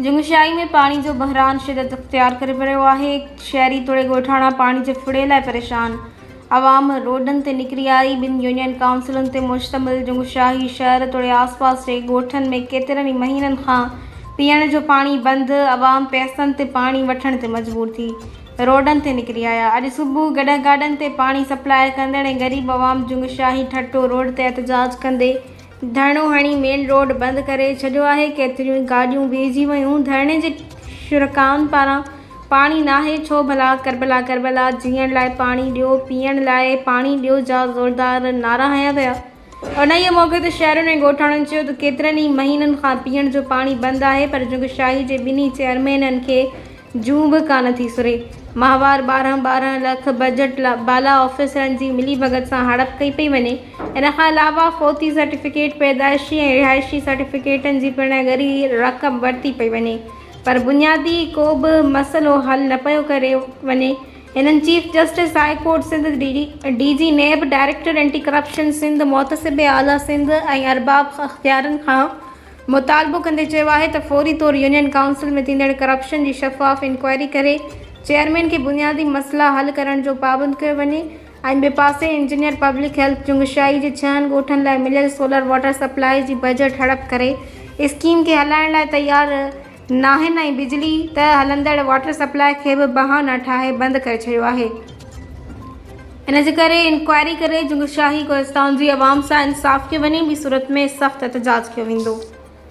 جنگشاهي ۾ پاڻي جو بحران شدت اختيار ڪري رهيو آهي، شهري توڙي ڳوٺاڻا پاڻي جي ڦڙي لاء پريشان، عوام روڊن تي نڪري آئي، ٻن يونين ڪائونسلن تي مشتمل جنگشاهي شهر توڙي آس پاس جي ڳوٺن ۾ ڪيترن ئي مهينن کان پيئڻ جو پاڻي بند، عوام پئسن تي پاڻي وٺڻ تي مجبور ٿي. روڊن تي نڪري آيا. اڄ صبح گڏهه گاڏن تي پاڻي سپلاء ڪندڙ ۽ غريب عوام جون شاهي ٺٽو روڊ تي احتجاج ڪندي ڌرڻو هڻي مين روڊ بند ڪري ڇڏيو آهي. ڪيتريون گاڏيون بيهجي ويون. ڌرڻي جي شرڪائن پاران پاڻي ناهي ڇو ڀلا؟ ڪربلا ڪربلا جيئڻ لاء پاڻي ڏيو، پيئڻ لاء پاڻي ڏيو جا زوردار نعرا هنيا ويا. انهيء موقعي تي شهرين ۽ ڳوٺاڻن چيو ته ڪيترن ئي مهينن کان پيئڻ جو پاڻي بند آهي پر جهنگ شاهي جي ٻنهي چيئرمينن کي جون به ڪانه ٿي سري. ماهوار ٻارهن ٻارهن لک بجٽ لا بالا آفيسرن جي ملي ڀڳت سان هڙپ ڪئي پئي وڃي. ان کان علاوه فوتي سرٽيفڪيٽ، پيدائشي ۽ رهائشي سرٽيفڪيٽن جي پڻ ڳري رقم ورتي پئي وڃي پر بنيادي ڪو به مسئلو حل نه پيو ڪري وڃي. هنن chief justice high court Sindh, D G NAB, director anti corruption Sindh, محتسب اعليٰ سنڌ ۽ ارباب اختيارن کان مطالبو ڪندي چيو آهي ته فوري طور يونين ڪائونسل ۾ ٿيندڙ ڪرپشن جي شفاف انڪوائري ڪري چيئرمين کي بنيادي مسئلا حل ڪرڻ جو پابند ڪيو وڃي ۽ ٻي پاسي انجنيئر پبلڪ هيلٿ چنگشائي جي ڇهن ڳوٺن لاء مليل سولر واٽر سپلائي جي بجيٽ هڙپ ڪري اسڪيم کي هلائڻ لاء تيار ناهن ۽ بجلي ته هلندڙ واٽر سپلاء کي به بها نه ٺاهي بند ڪري ڇڏيو آهي ان جي ڪري انڪوائري ڪري جنگ شاهي ڪولستان جي عوام سان انصاف ڪيو وڃي ٻي صورت ۾ سخت احتجاج ڪيو ويندو.